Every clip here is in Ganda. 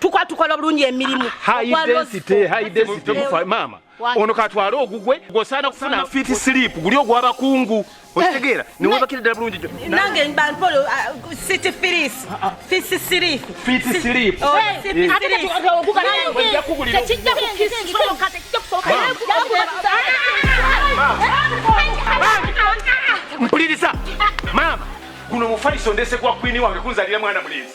tukwa tukola bulungi emirimu maama ono katwale ogugwe gwosaana kufuna fiti silipu guli ogwabakungu eh. okitegeera newebakira ddala bulungi nange bampolo uh, city firis ah, ah. fisi silipu fiti silipu oh, mpuliriza maama guno mufaliso ndese gwa kwini wange kunzalira mwana mulenzi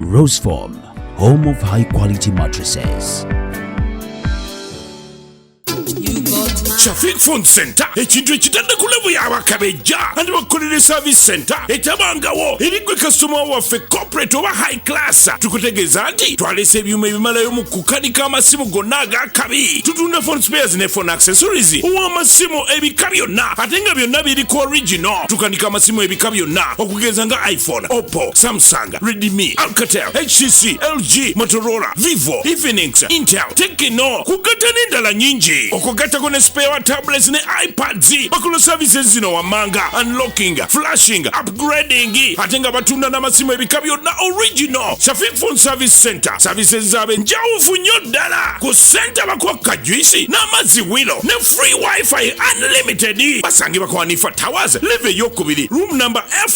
Roseform, home of high quality mattresses. Shafiq Phone Center ekintu ekitadde ku levu y'abakabejja andi bakukolera service center etabangawo eri gwe kasitoma waffe corporate oba high class tukutegeeza nti twalese ebyuma ebimalayo mu kukanika amasimu gonna ag'akabi tutunda phone spares ne phone accessories ow'amasimu ebika byonna ate nga byonna biri ku original tukanika amasimu ebika byonna okugeza nga iphone oppo samsung Honda, Redmi, Alcatel, HTC, LG, Motorola, Vivo, Infinix, Intel, Tecno kugatta n'endala nyingi okugattako ne spare wa tablets ne iPads bakola services zino wammanga unlocking, flashing, upgrading ate nga batunda n'amasimu ebika byonna original Shafiq Phone Service Center services zaabwe njawufu nnyo ddala ku senta bakwakka juisi n'amazzi wilo ne free wifi unlimited basangibwa kwa Hanifa Towers live eyokubiri room number F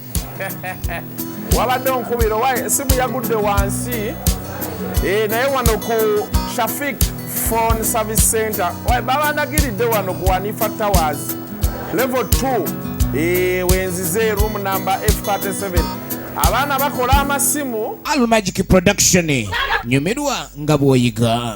wabadde onkubira owa esimu yagudde wansi eh, naye wano ku shafik phone service center babandagiridde wano ku wanifa towers level 2 eh, wenzize room number f37 abaana bakola amasimu almagic production nyumirwa nga bwoyiga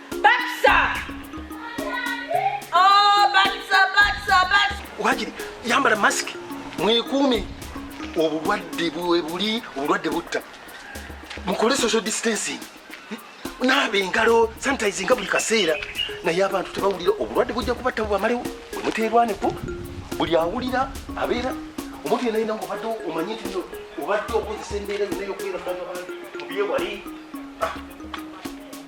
wakiri yambala masiki mwekuume obulwadde bwebuli obulwadde butta mukole social distancing naaba engalo sanitize nga buli kaseera naye abantu tebawulira obulwadde bujja kubatta bwamalewo omuteerwaneko buli awulira abeera omuntu yena yina ngaobadde omanye nti obadde okozesa embeera yona yokubeera mubyewali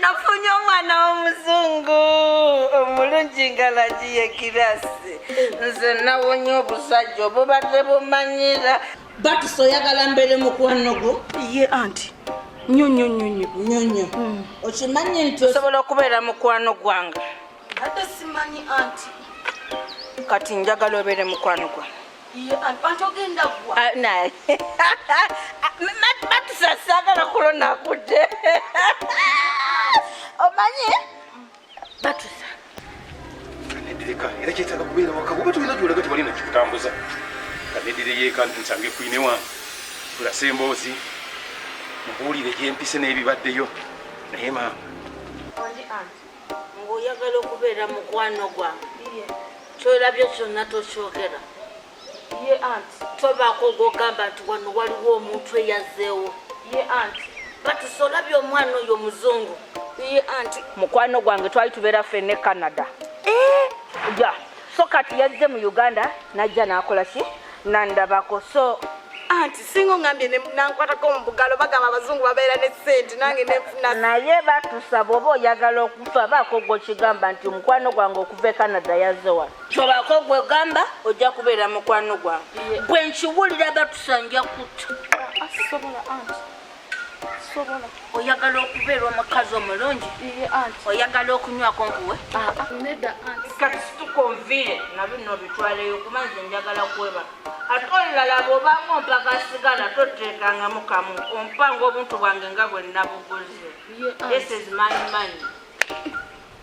nafunye omwana w'omuzungu omulungi nga lagiye kirasi nze nawonye obusajja obubadde bumanyira Bakiso oyagala mbeere mukwano gwo? Ye anti nnyo nnyo nnyo nnyo nnyo nnyo. Hmm. Okimanyi nti osobola okubeera mukwano gwange? Ate simanyi anti. Kati njagala obeere mukwano gwange. Ah, naye batusasagala kulonakudde omanyi batusa kaneddireka era kyetaaga kubeera waka oba tulina gyolaga tewali nakikutambuza kaneddire yeeka nsange kwine wange tulase emboozi mubuulire gyempise n'ebibaddeyo naye maama ng'oyagala okubeera mukwano gwange kyolabye kyonna tokyogera ye anti tobaako ogwogamba nti wano waliwo omuntu eyazzeewo ye anti batusa olabye omwana oyo omuzungu ye anti mukwano gwange twali tubeera ffe ne canada eh? ya so kati yazze mu uganda najja n'akola ki nandabako so anti singa ongambye nankwatako omubugalo bagamba abazungu babeera ne sente nange nenfuna naye batusa bwoba oyagala okufa baako gwokigamba nti omukwano gwange okuva e canada yaze wano kyobaako gwegamba ojja kubeera mukwano gwange bwe nkiwulira batusanja kutta oyagala okubeera omukazi omulungi oyagala okunywako nkuwe katusitukuvire na bino bitwaleyo kuba nze njagala kweba ate olulala bwobanga ompaga sigala toteekangamu kamu ompanga obuntu bwange nga bwe nabuguze this is my money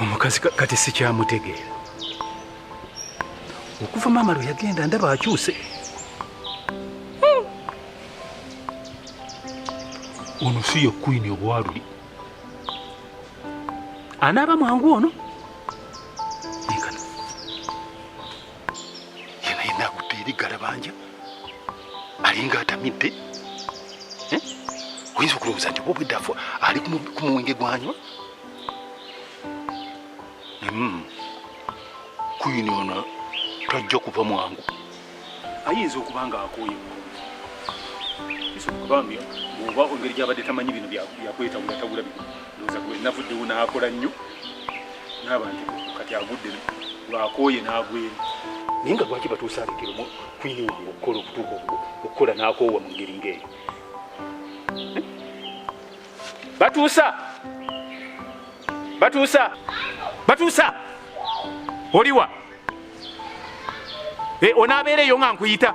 omukazi kati sikyamutegeera okuva maama lwe yagenda ndaba akyuse hmm. ono si ye kwini obwaluli anaaba mwangu ono yena yena akutte eri galabanja alinga atamidde eh? oyinza okulowooza nti obwedda afu ali ku muwenge gwanywa hmm. kuyini ono tajja kuva mwangu ayinza okuba nga akooye bambi oba engeri gyabadde tamanyi bino byakwetawulatawula bino navuddewo n'akola nnyo n'abantu kati agudde lwakooye n'agweri naye nga lwaki batuusa abigero kwini wange okukola okutuuka okukola n'akoowa mu ngeri ng'eyo batuusa batuusa batuusa oliwa eh, onaabeera eyo nga nkuyita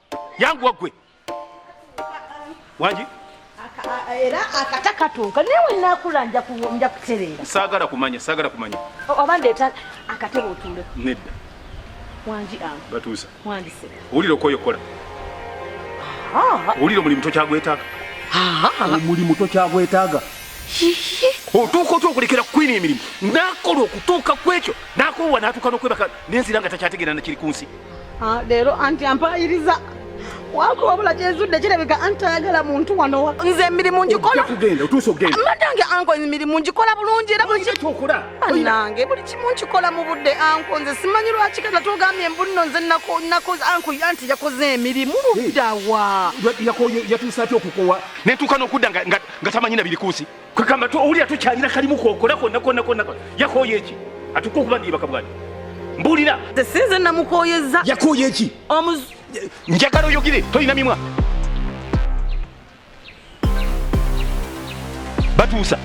yangu wagwe wangi era akata katuuka naye wenakula nja kutereera saagala kumanya saagala kumanya oba ndeeta akatebe otuule nedda wangi ange batuusa wangi se owulira okwoyo kola owulira omulimu tokyagwetaaga omulimu tokyagwetaaga otuuka otya okulekera kukwina emirimu nakola okutuuka kwekyo nakowa natuuka nokwebaka nenzira nga takyategeera nakiri ku nsi Ah, leero anti ampayiriza wako wabula kyezudde kirabika anti ayagala muntu wano nze emirimu ngikola madange anko emirimu ngikola bulungi era bulibanange buli kimu nkikola mu budde anko nze simanyi lwaki kata tugambye mbunno nze nakoze anko anti yakoze emirimu luddawa yatuusa atya okukowa netuuka n'okudda nga tamanyi nabirikuusi kwekamba tu owulira tukyalina kalimu kokola konna konna konna yakooye eki atuka okuba niyebaka bwani mbulira sinze namukoyeza yakooye eki njagala oyogire tolina mimwa batuusa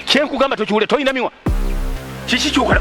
kyenkugamba tokiwulira tolina mimwa kiki kyokola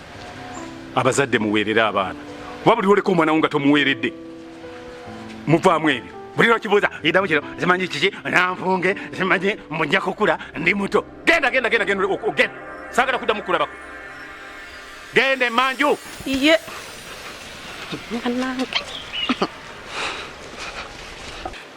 abazadde muweerere abaana oba buli woleka omwana wo nga tomuweeredde muvaamu ebyo buli lwakibuuza idamu kino zimanyi kiki nanfunge zimanyi mujja kukula ndi muto genda genda genda genda ogenda sagala kuddamu kulabako genda emanju iye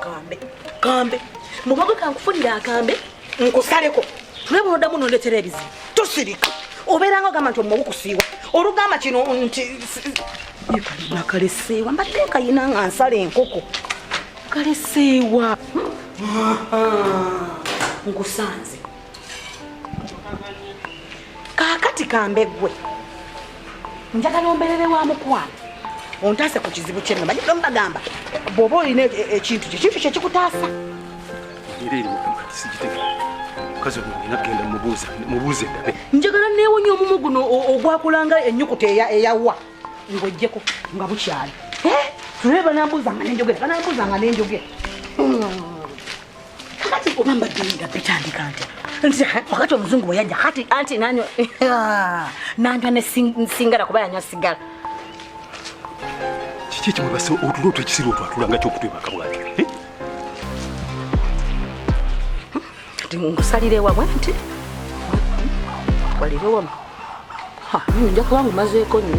kambe kambe mugogo kankufunire akambe nkusaleko tule bunodamu nondetera ebizibu tosirika obeeranga ogamba nti omuwa gukusiiwa olugamba kino nti nakaleseewa mbadde kayina nga nsala enkoko kaleseewa nkusanze kaakati kambeggwe njagala omberere wa mukwano ontaase ku kizibu kyenno manyi mbagamba bw'oba olina e- e- ekintu kyo kintu kyekikutaasa njagala neewonya omumu guno ogwakulanga ennyukuta eyawa ng'ojjeko nga bukyali tulabe banambuuza nga nenjogera banambuuza nga nenjogera kati oba mbadde nga bitandika nti nti wakati omuzungu bwe yajja kati anti nanywa nanywa nesingala kuba yanywa sigala kiki ekimwebase otulo otwo ekisiri otwo atulanga kyokutwebaka bwati eh? kati ngusalire wamwe nti walire wamu nja kuba ngumazeeko nyo